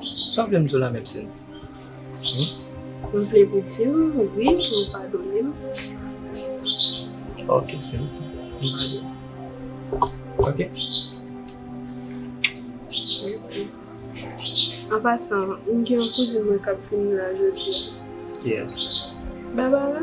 Sa w vle m di w la menm Sendy? M vle pou di w wi pou w padone m. Ok Sendy, m padone w. Ok. Mèsi. An pasan, m gen yon kouzin mwen k ap vini la jodi a. Ki yès? Barbara.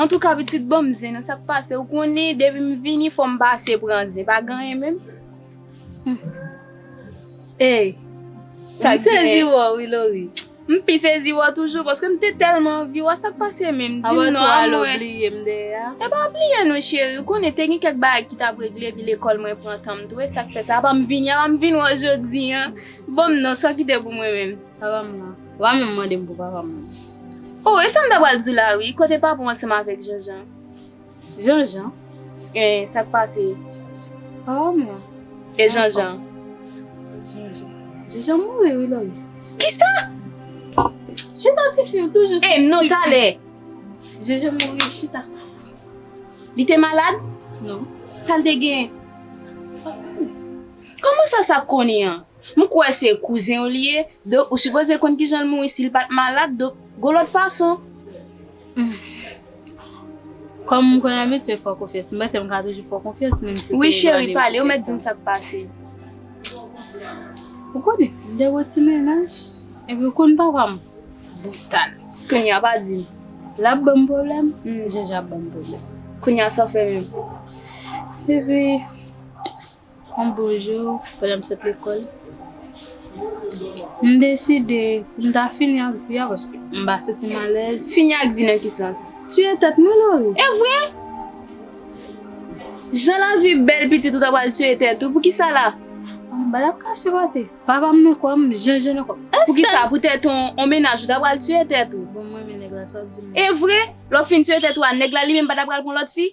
Antouka pitit banm zen nan sak pase ou konnen depim vini fòm pase pran zen pa gen anyen menm Eyy Sak gen M sezi wè w wi Laurie M pi sezi wè w toujou paske m te tèlman anvi wè w sak pase menm dim non a mwen Anvan tou al ou bliye m dèyè a Epa m bliye nou cheri ou konnen te gen kèk bagay ki tap regle epi lekòl mwen pran tanm tou esak fè sa apa m vini apa m vin wè w jodi an Banm non sa kite pou mwen menm Apa m nan. Wa menm mande m pou papa mwen. Oh e sa m ta pral di w la wi, kote papa w ansanm avèk Janjan? Janjan? E sa k pase papa m nan? E Janjan? Janjan? Janjan mouri wi Lòlò. Kisa? Chita ti fi ou toujou sou stupid. E non talè. Janjan mouri chita. Li te malad? Non. Sa l te gen? Sa konnen? Kòman sa sa konnen an? M kwè se kouzen w li ye, donk ou sipoze konn kijan l mouri si l pa t malad, donk gon lòt fason. Humm. Kòm m konn abitye fè w konfyans, m panse m ka toujou fè w konfyans menm si w te elwanye m kèk tan. Wi cheri, pale, ou mèt di m sa k pase. Ou konnen, m te gwo ti mennaj, epi ou konn papa m, brital. Kounya pa di m. L ap ban m pwoblèm, Jèjè ap ban m pwoblèm. Kounya sa w fè menm? Epi. On bon jou, pandan m sot lekòl, m deside pou m ta fini ak vi a paske m pa santi m alèz. Fini ak vi nan ki sans? Tiye tèt mwen Lori. E vre! Jan lavi bèl pitit ou ta pral tiye tèt ou, poukisa la? M pa tap kache kote papa m nan kò m, jenjen nan kò m. Poukisa pou tèt on mennaj ou ta pral tiye tèt ou? Bon m renmen nèg la sa w di m la. E vre! Lè w fin tiye tèt ou a, nèg la li menm pa ta pral pran lòt fi?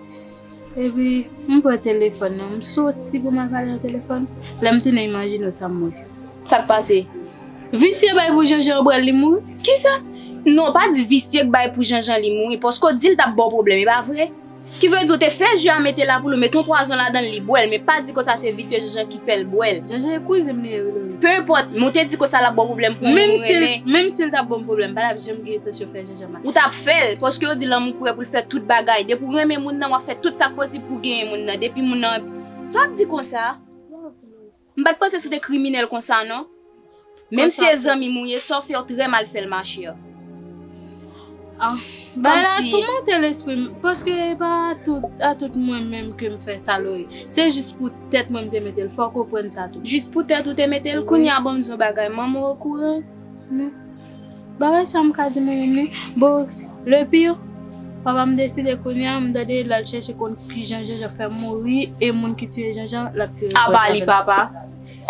Epi, m pran telefòn nan, m soti pou m al pale nan telefòn. Lè m tounen imajine w sa m wè. Sa k pase? Visye bay pou Janjan ou pral li mouri? Kisa? Non, w pa di visye k bay pou Janjan li mouri, paske w di l t ap ba w pwoblèm, e pa vre? Ki vle di w te fè ji a mete la pou l ou mete yon pwazon ladan l li bwè l, men pa di konsa se visye Janjan ki fè l bwè l. Janjan e kouzen m li ye wi Lori. Penenpòt, men w te di konsa l ap ba w pwoblèm pou moun ou renmen. Menm si l t ap ba m pwoblèm, m pa t ap janm gen entansyon fè. Ou tap fèl, paske yo di lanmou prè poul fè tout bagay, depi ou renmen moun nan wap fè tout sak posib pou genyen moun nan, depi moun nan, sa wap di konsa, m pat panse se w te kriminèl konsa non, menm si e zanmim ou ye, sa w fè ou trè mal fèl ma chère. Bagay la toumante lesprim, paske e pa a tout mwen menm kem fè sa lou ye, se jis pou tèt mwen m te metel, fòw konprann sa tou. Jis pou tèt ou te metel, kounya banm di w yon bagay, manman w okouran? Bagay sa m ka di moun menm wi bon le pire papa m deside kounye a m tande lal chèche konn kijan Janjan fè mouri e moun ki tiye Janjan lap tire kò Janjan. Aba li papa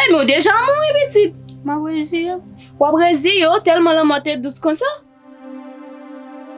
Ebyen w deja mouri pitit. Map reziye m. Wap reziye w tèlman lanmò te dous konsa?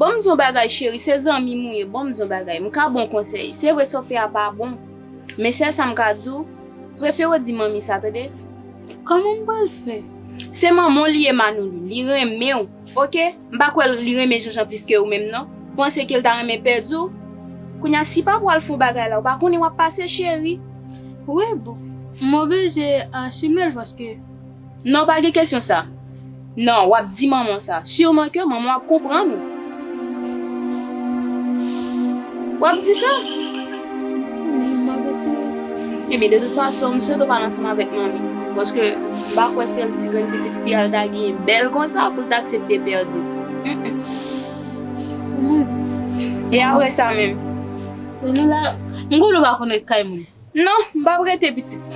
Bon m di w yon bagay cheri, se zanmi m ou ye, bon m di w yon bagay, m ka ba w konsèy, se vre sa w fè a pa bon, men sèl sa m ka di w, prefere w di manmi sa tande. Kòman m pral fè? Se manman w li ye Manouli, li renmen w. Ok, m pa kwè li renmen Janjan plis ke ou menm non. Ou panse ke li ta renmen pèdi w? Kounye a si papa w al fon bagay la, ou pa konnen w ap pase cheri. Wi bon, m oblije asume l paske. Non pa gen kesyon sa. Non, w ap di manman w sa. Sûrement ke manman w ap konprann ou. W ap di sa? Map eseye. Ebyen de tout fason m swete w pale ansanm avèk manmi paske m pa kwè se yon ti grenn pitit fi a l ta genyen bèl konsa pou l ta aksepte pèdi l. E aprè sa menm? M konnen w pa konn ret kay moun. Non, m pap rete pitit.